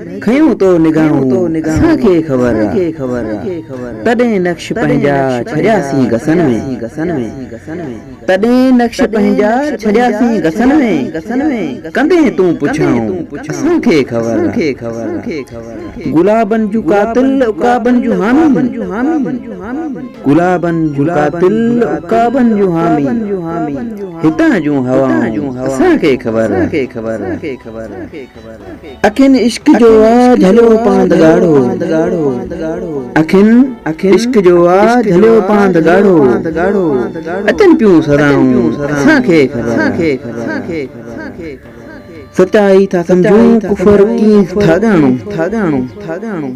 کنيون تو نگاهون اسان کي خبر آ تڏهن نقش پنهنجا ڇڏياسين گسن ۾، تڏهن نقش پنهنجا ڇڏياسين گسن ۾، ڪندين تون پڇائون اسان کي خبر آ گلابن جون قاتل عقابن جون حامي، گلابن جون قاتل عقابن جون حامي، هتان جون هوائون اسان کي خبر آ. اکين عشق جو آ جهليو پاند ڳاڙهو اکين عشق جو آ جهليو پاند ڳاڙهو اچن پيون سدائون اسان کي خبر سچائي ٿا سمجهون ڪفر ڪيئن ٿا ڄاڻون